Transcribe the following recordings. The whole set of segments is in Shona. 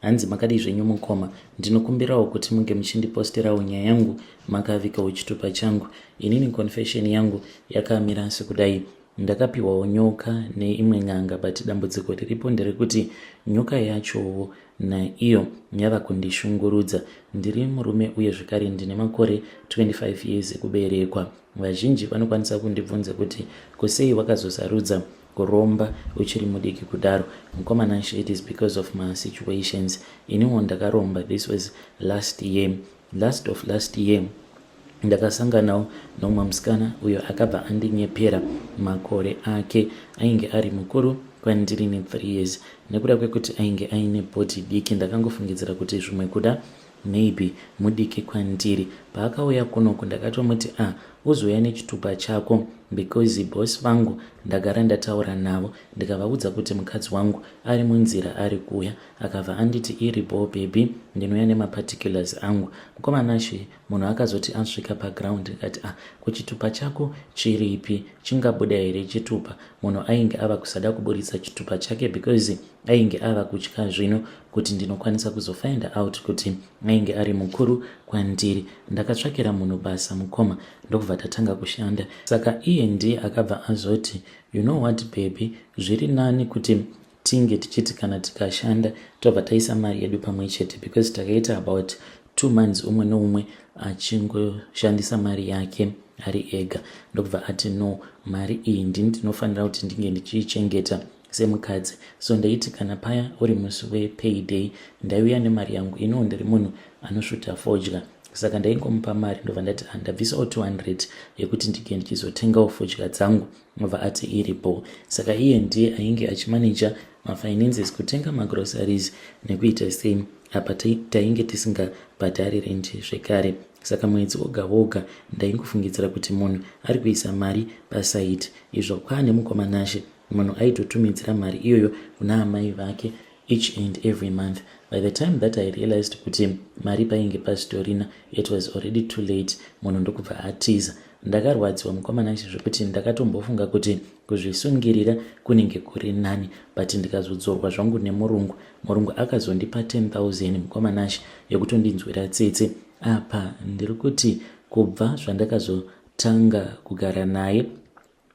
Hanzi makadii zvenyu mukoma, ndinokumbirawo kuti munge muchindiposterawo nyaya yangu makavikawo chitupa changu. Inini confession yangu yakamira sekudai. Ndakapiwawo nyoka neimwe n'anga but dambudziko riripo nderekuti nyoka yachowo naiyo yava kundishungurudza. Ndiri murume uye zvekare ndine makore 25 years ekuberekwa. Vazhinji vanokwanisa kundibvunza kuti kusei wakazosarudza kuromba uchiri mudiki kudaro mukomana nxaa it is because of ma situations iniwo ndakaromba this was last year last of last year ndakasanganawo nomwe musikana uyo akabva andinyepera makore ake ainge ari mukuru kwandiri ne three years nekuda kwekuti ainge aine body diki ndakangofungidzira kuti zvimwe kuda Maybe mudiki kwandiri. Paakauya kunoku ndakatomuti ah uzouya nechitupa chako because boss vangu ndagara ndataura navo ndikavaudza kuti mukadzi wangu ari munzira ari kuuya akabva anditi iri bhoo baby ndinouya nemaparticulars angu mukoma Nashe munhu akazoti asvika paground ndikati ah kuchitupa chako chiripi chingabuda here chitupa munhu ainge ava kusada kuburitsa chitupa chake because ainge ava kutya zvino kuti ndinokwanisa kuzofind out kuti ainge ari mukuru kwandiri ndakatsvakira munhu basa mukoma ndokubva tatanga kushanda saka iye ndiye akabva azoti you know what baby zviri nani kuti tinge tichiti kana tikashanda tobva taisa mari yedu pamwe chete because takaita about two months umwe noumwe achingoshandisa mari yake ari ega ndokubva ati no mari iyi ndini ndinofanira kuti ndinge ndichiichengeta semukadzi so ndaiti kana paya uri musi wepayday ndaiuya nemari yangu ino ndiri munhu anosvuta fodya saka ndaingomupa mari ndobva ndati handabvisawo ah, 200 yekuti ndike ndichizotengawo fodya dzangu obva ati iri bho saka iye ndiye ainge achimaneja mafinances kutenga magroceries nekuita sei apa tainge tisingabhadhari rendi zvekare saka mwedzi woga woga ndaingofungidzira kuti munhu ari kuisa mari pasaidi izvo kwaane mukomanashe munhu aitotumidzira mari iyoyo kuna amai vake each and every month by the time that i realized kuti mari painge pasitorina it was already too late munhu ndokubva atiza ndakarwadziwa mukomana izvi zvekuti ndakatombofunga kuti kuzvisungirira kunenge kuri nani but ndikazodzorwa zvangu nemurungu murungu akazondipa 10000 mukomana izvi yekutondinzwira tsitsi apa ndiri kuti kubva zvandakazotanga kugara naye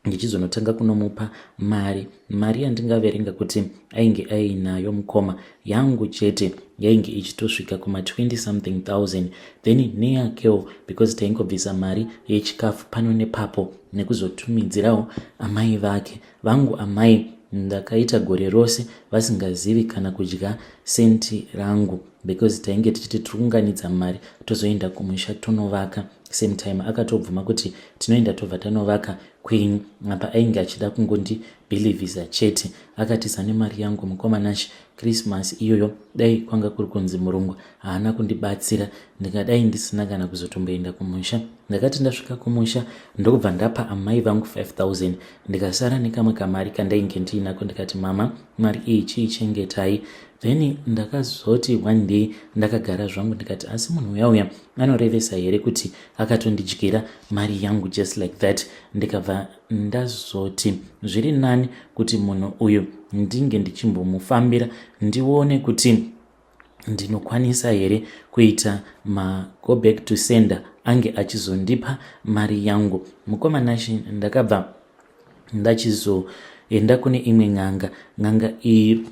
ndichizonotanga kunomupa mari mari yandingaverenga kuti ainge ainayo mukoma yangu chete yainge ichitosvika kuma 20 something thousand then neyakewo because taingobvisa mari yechikafu pano nepapo nekuzotumidzirawo amai vake vangu amai ndakaita gore rose vasingazivi kana kudya senti rangu because tainge tichiti tiri kuunganidza mari tozoenda kumusha tonovaka same time akatobvuma kuti tinoenda tobva tanovaka queen apa ainge achida kungondi believisa chete akatiza nemari yangu mukoma nashe krismas iyoyo dai kwanga kuri kunzi murungu haana kundibatsira ndingadai ndisina kana kuzotomboenda kumusha ndakati ndasvika kumusha ndokubva ndapa amai vangu 5000 ndikasara nekamwe kamari kandainge ndiinako ndikati mama mari iyi chiichengetai then ndakazoti one day ndakagara zvangu ndikati asi munhu uya uya anorevesa here kuti akatondidyira mari yangu just like that ndikabva ndazoti zviri nani kuti munhu uyu ndinge ndichimbomufambira ndione kuti ndinokwanisa here kuita mago back to sender ange achizondipa mari yangu mukoma nashe ndakabva ndachizoenda kune imwe n'anga n'anga iyi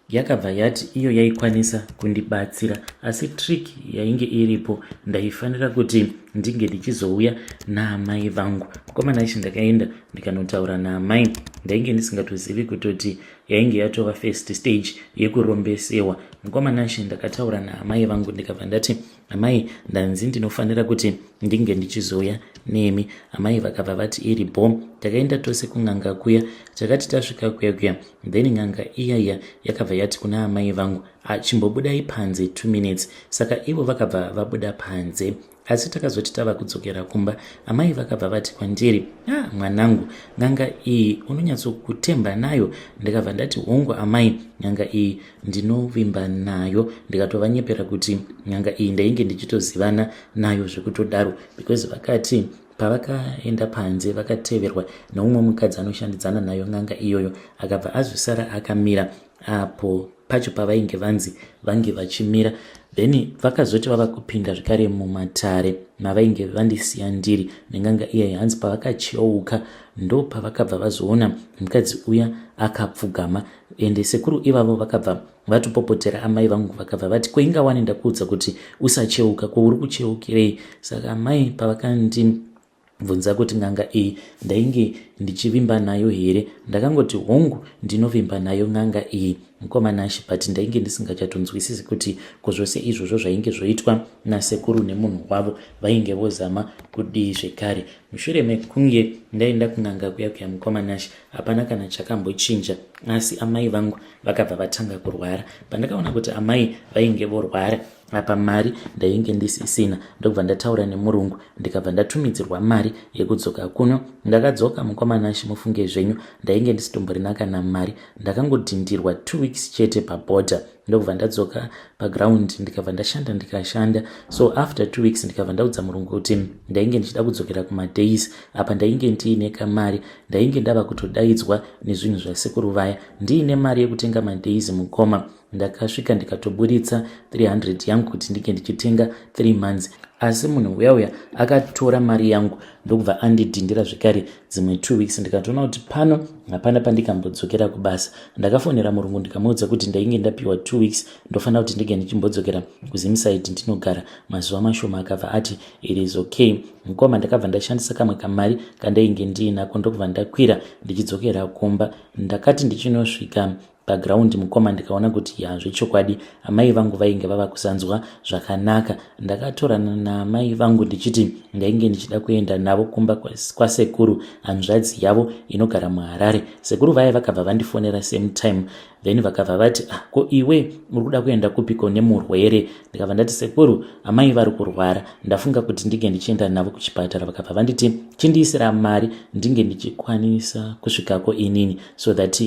Yakabva yati iyo yaikwanisa kundibatsira asi trick yainge iripo ndaifanira kuti ndinge ndichizouya naamai vangu. Mukomana ichi ndakaenda ndikanotaura naamai ndainge ndisingatozivi kutoti yainge yatova first stage yekurombesewa. Mukomana ichi ndakataura naamai vangu ndikabva ndati amai ndanzi ndinofanira kuti ndinge ndichizouya nemi amai vakabva vati iri bho takaenda tose kun'anga kuya takati tasvika kuya kuya then n'anga iya iya yakabva yati kuna amai vangu achimbobudai panze two minutes saka ivo vakabva vabuda panze asi takazoti tava kudzokera kumba amai vakabva vati kwandiri a ah, mwanangu n'anga iyi unonyatsokutemba nayo ndikabva ndati hongu amai n'anga iyi ndinovimba nayo ndikatovanyepera kuti nyanga iyi ndainge ndichitozivana nayo zvekutodaro because vakati pavakaenda panze vakateverwa neumwe mukadzi anoshandidzana nayo n'anga iyoyo akabva azosara akamira apo pacho pavainge vanzi vange vachimira then vakazoti vava kupinda zvekare mumatare mavainge vandisiya ndiri nenganga iyayi hanzi pavakacheuka ndo pavakabva vazoona mukadzi uya akapfugama ende sekuru ivavo vakabva vatopopotera amai vangu vakabva vati koinga wani ndakuudza kuti usacheuka ko uri kucheukirei saka amai pavakandibvunza kuti n'anga iyi ndainge ndichivimba nayo here ndakangoti hongu ndinovimba nayo n'anga iyi mukoma nashe but ndainge ndisingachatonzwisisi kuti ko zvose izvozvo zvainge zvoitwa nasekuru nemunhu wavo vainge vozama kudii zvekare mushure mekunge ndaenda kun'anga kuya kuya mukoma nashe hapana kana chakambochinja asi amai vangu vakabva vatanga kurwara pandakaona kuti amai vainge vorwara apa mari ndainge ndisisina ndokubva ndataura nemurungu ndikabva ndatumidzirwa mari yekudzoka kuno ndakadzoka mukomanashi mufunge zvenyu ndainge ndisitomborina kana mari ndakangodhindirwa two weeks chete paborder ndokubva ndadzoka paground ndikabva ndashanda ndikashanda so after two weeks ndikabva ndaudza murungu kuti ndainge ndichida kudzokera kumadays apa ndainge ndiine kamari ndainge ndava kutodaidzwa nezvinhu zvasekuru vaya ndiine mari yekutenga madays mukoma ndakasvika ndikatoburitsa 300 yangu kuti ndinge ndichitenga 3 months asi munhu uya uya akatora mari yangu ndokubva andidhindira zvekare dzimwe two weeks ndikatoona kuti pano hapana pandikambodzokera kubasa ndakafonera murungu ndikamuudza kuti ndainge ndapiwa two weeks ndofanira kuti ndege ndichimbodzokera kuzimsaid ndinogara mazuva mashoma akabva ati it is okay mukoma ndakabva ndashandisa kamwe kamari kandainge ndiinako ndokubva ndakwira ndichidzokera kumba ndakati ndichinosvika paground mukoma ndikaona kuti hazvo chokwadi amai vangu vainge vava kusanzwa zvakanaka ndakatorana naamai vangu ndichiti ndainge ndichida kuenda navo kumba kwasekuru hanzvadzi yavo inogara muharare sekuru vaye vakabva vandifonera same time then vakabva vati ah, ko iwe uri kuda kuenda kupiko nemurwere ndikabva ndati sekuru amai vari kurwara ndafunga kuti ndinge ndichienda navo kuchipatara vakabva vanditi chindiisira mari ndinge ndichikwanisa kusvikako inini so that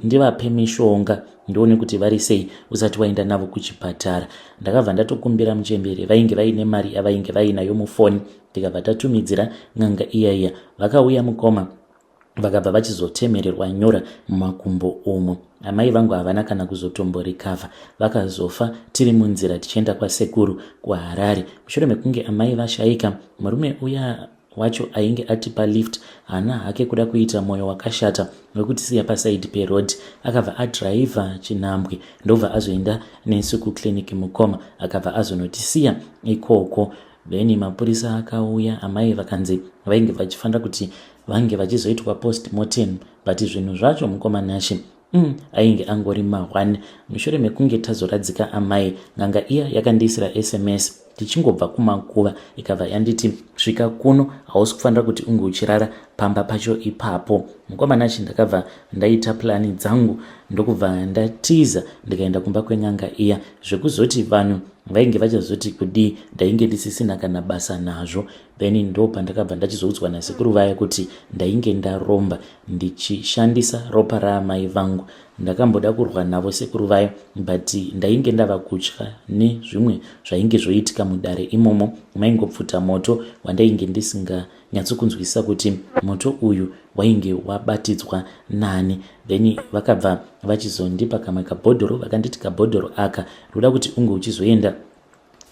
ndivape mishonga ndione kuti vari sei usati waenda navo kuchipatara ndakabva ndatokumbira muchemberi vainge vaine mari yavainge vainayo mufoni ndikabva tatumidzira n'anga iya iya vakauya mukoma vakabva vachizotemererwa nyora mumakumbo umo amai vangu havana kana kuzotomborikavha vakazofa tiri munzira tichienda kwasekuru kuharare mushure mekunge amai vashaika murume uya wacho ainge atipa lift haana hake kuda kuita mwoyo wakashata wekutisiya pasaidi peroad akabva adhiraivha chinhambwe ndobva azoenda nesu kuclinic mukoma akabva azonotisiya ikoko then mapurisa akauya amai vakanzi vainge vachifanira kuti vange vachizoitwa post mortem but zvinhu zvacho mukoma nashe Mm, ainge angori mahwani mushure mekunge tazoradzika amai n'anga iya yakandiisira sms tichingobva kumakuva ikabva yanditi svika kuno hausi kufanira kuti unge uchirara pamba pacho ipapo mukomana chi ndakabva ndaita plani dzangu ndokubva ndatiza ndikaenda kumba kwen'anga iya zvekuzoti vanhu vainge vachazoti kudii ndainge ndisisina kana basa nazvo then ndo pandakabva ndachizoudzwa nasekuru vaya kuti ndainge ndaromba ndichishandisa ropa raamai vangu ndakamboda kurwa navo sekuru vayo but ndainge ndava kutya nezvimwe zvainge zvoitika mudare imomo maingopfuta moto wandainge ndisinganyatsokunzwisisa kuti moto uyu wainge wabatidzwa nani then vakabva vachizondipa kamwe kabhodhoro vakanditi kabhodhoro aka ruda kuti unge uchizoenda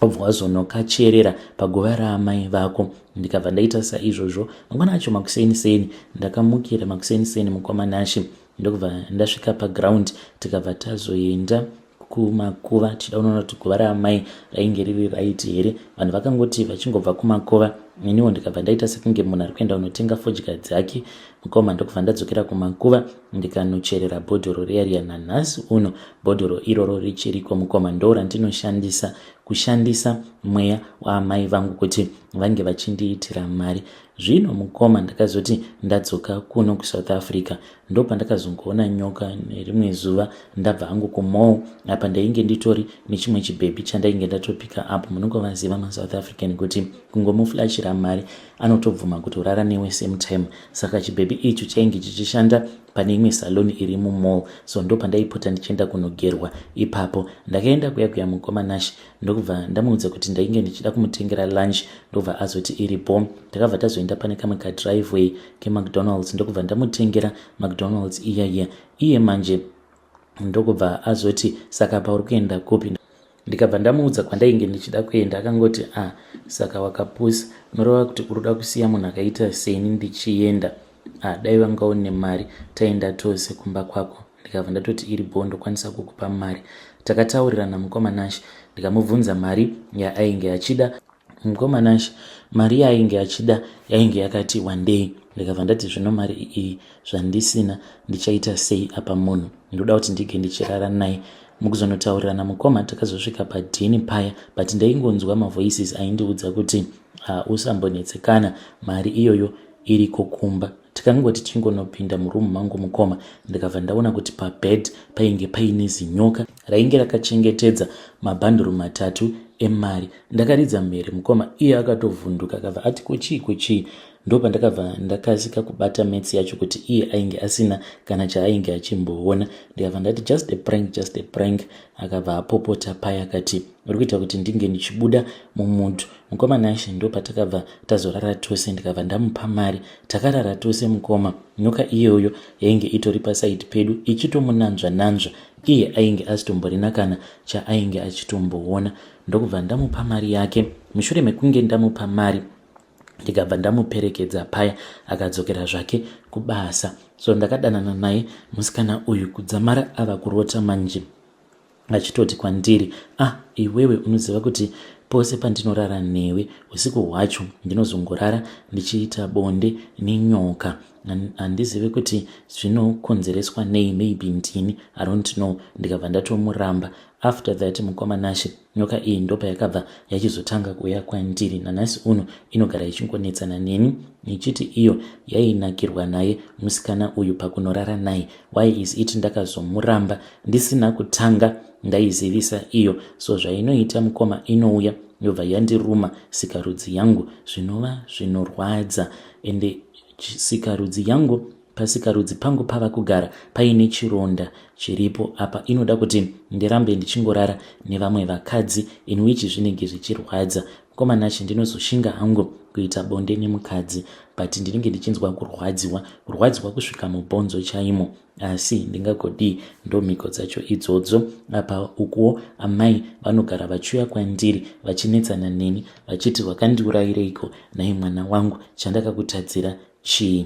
wabva wazonokacherera paguva raamai vako ndikabva ndaita saizvozvo mangwana acho makuseni seni ndakamukira makuseni seni mukoma nashe ndokubva ndasvika paground tikabva tazoenda kumakuva tichida unoona kuti guva raamai rainge riri raiti here vanhu vakangoti vachingobva kumakuva iniwo ndikabva ndaita sekunge munhu ari kuenda unotenga fodya dzake mukoma ndokubva ndadzokera kumakuva ndikanocherera bhodhoro riya riya nanhasi uno bhodhoro iroro richiriko mukoma ndo randinoshandisa kushandisa mweya waamai vangu kuti vange vachindiitira mari zvino mukoma ndakazoti ndadzoka kuno kusouth africa ndo pandakazongoona nyoka nerimwe zuva ndabva hangu kumall apa ndainge nditori nechimwe chibhebhi chandainge ndatopika apo munongovaziva masouth african kuti kungomuflashira mari anotobvuma kuti urara newe same time saka chibhebhi icho chainge chichishanda pane imwe saloni iri mumall so ndo pandaipota ndichienda kunogerwa ipapo ndakaenda kuya kuya mukoma nash ndokubva ndamuudza kuti ndainge ndichida kumutengera lunch ndokubva azoti iri bo takabva tazoenda pane kamwe kadriveway kemacdonalds ndokubva ndamutengera macdonalds iyaiya iye manje ndokubva azoti saka pauri kuenda kupi ndikabva ndamuudza kwandainge ndichida kuenda akangoti a ah, saka wakapusa unoreva kuti uri kuda kusiya munhu akaita seni ndichienda a ah, dai vanga une mari taenda tose kumba kwako ndikabva ndatoti iri bho ndokwanisa kukupa mari takataurirana mukoma nashe ndikamubvunza mari yaainge achida mukoma nashe mari yaainge achida yainge yakati wandei ndikabva ndati zvino mari iyi zvandisina ndichaita sei apa munhu ndoda kuti ndike ndichirara naye mukuzonotaurirana mukoma takazosvika padhini paya but ndaingonzwa mavoices aindiudza kuti ah, usambonetsekana mari iyoyo iriko kumba Tikango tichingonopinda muroom mangu mukoma ndikabva ndaona kuti pabed painge paine zinyoka rainge rakachengetedza mabhanduru matatu emari. Ndakaridza mhere mukoma iye akatovhunduka akabva ati kuchii kuchii ndopandakabva ndakasika kubata mets yacho kuti iye ainge asina kana chaainge achimboona ndikabva ndati just a prank just a prank akabva apopota paya akati uri kuita kuti ndinge ndichibuda mumutu Mukoma Nashe ndopatakabva tazorara tose ndikabva ndamupa mari takarara tose mukoma nyoka iyoyo yainge itori pasaidi pedu ichitomunanzva nanzva iye ainge asitomborina kana chaainge achitomboona ndokubva ndamupa mari yake mushure mekunge ndamupa mari ndikabva ndamuperekedza paya akadzokera zvake kubasa so ndakadanana naye musikana uyu kudzamara ava kurota manje vachitoti kwandiri ah iwewe unoziva kuti pose pandinorara newe usiku hwacho ndinozongorara ndichiita bonde nenyoka handizive kuti zvinokonzereswa nei maybe ndini i don't know ndikabva ndatomuramba after that mukoma nashe nyoka iyi ndopa yakabva yachizotanga kuuya kwandiri nanhasi uno inogara ichingonetsana neni ichiti iyo yainakirwa naye musikana uyu pakunorara naye why is it ndakazomuramba ndisina kutanga ndaizivisa iyo so zvainoita mukoma inouya yobva yandiruma sikarudzi yangu zvinova zvinorwadza ende sikarudzi yangu pasikarudzi pangu pava kugara paine chironda chiripo apa inoda kuti ndirambe ndichingorara nevamwe vakadzi in which zvinenge zvichirwadza Mkoma Nashe ndinozoshinga hangu kuita bonde nemukadzi but ndinenge ndichinzwa kurwadziwa kurwadziwa kusvika mubhonzo chaimo asi ndingagodii ndomhiko dzacho idzodzo apa ukuwo amai vanogara vachiuya kwandiri vachinetsana neni vachiti wakandiurayireiko nhai mwana wangu chandakakutadzira chii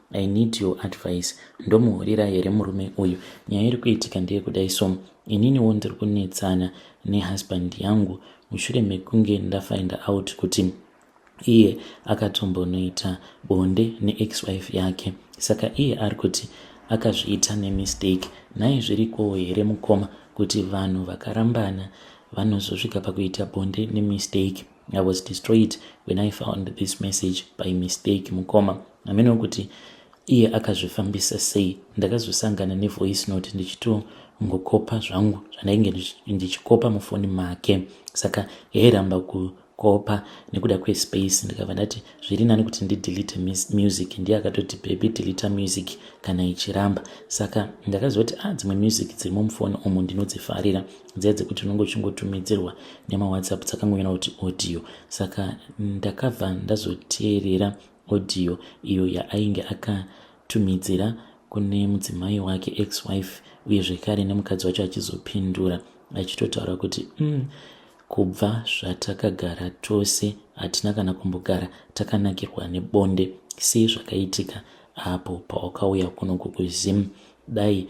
I need your advice ndomuhurira here murume uyu nyaya iri kuitika ndeyekudai so ininiwo ndiri kunetsana nehusband yangu mushure mekunge ndafind out kuti iye akatombonoita bonde neex wife yake saka iye ari kuti akazviita nemistake nhai zvirikowo here mukoma kuti vanhu vakarambana vanozosvika pakuita bonde nemistake I was destroyed when I found this message by mistake mukoma hameno kuti iye akazvifambisa sei ndakazosangana nevoice note ndichitongokopa zvangu zvandainge ndichikopa mufoni make saka yairamba kukopa nekuda kwespace ndikabva ndati zviri nani kuti ndidelete music ndiye akatoti baby delete music kana ichiramba saka ndakazoti a ah, dzimwe music dziri mumufoni umu ndinodzifarira dziya dzekuti unenge uchingotumidzirwa nemawhatsapp dzakangonyora kuti audio saka ndakabva ndazoteerera audio iyo yaainge akatumidzira kune mudzimai wake ex wife uye zvekare nemukadzi wacho achizopindura achitotaura kuti mm, kubva zvatakagara tose hatina kana kumbogara takanakirwa nebonde sei zvakaitika apo pawakauya kuno kukuzim dai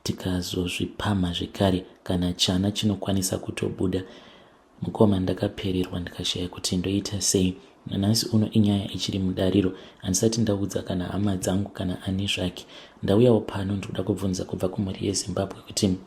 tikazozvipamha zvekare kana chana chinokwanisa kutobuda mukoma ndakapererwa ndikashaya kuti ndoita sei nanhasi uno inyaya ichiri mudariro handisati ndaudza kana hama dzangu kana ani zvake ndauyawo pano ndikuda kubvunza kubva kumhuri yezimbabwe kuti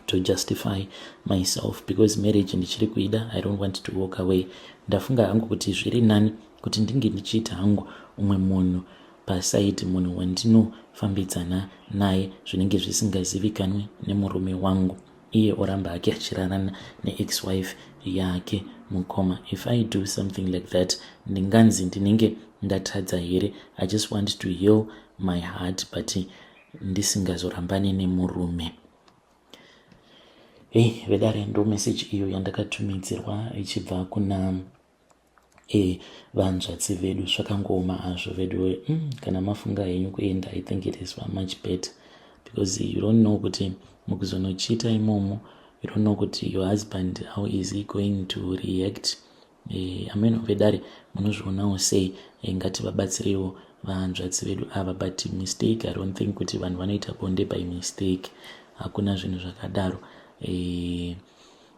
to justify myself because marriage ndichiri kuida i don't want to walk away ndafunga hangu kuti zviri nani kuti ndinge ndichiita hangu umwe munhu paside munhu wandinofambidzana naye zvinenge zvisingazivikanwe nemurume wangu iye oramba hake achirarana neex wife yake mukoma if i do something like that ndinganzi ndinenge ndatadza here i just want to heal my heart but ndisingazorambane nemurume hei vedare ndo meseji iyo yandakatumidzirwa ichibva kuna Eh, vanzvadzi vedu zvakangooma hazvo veduwe mm, kana mafunga henyu kuenda i think it is much better because you don't know kuti mukuzonochita imomo you don't know kuti your husband how is he going to react eh, ameno vedare munozvionawo sei eh, ngativabatsireiwo vanzvadzi vedu ava but mistake i don't think kuti vanhu vanoita bonde by mistake hakuna zvinhu zvakadaro eh,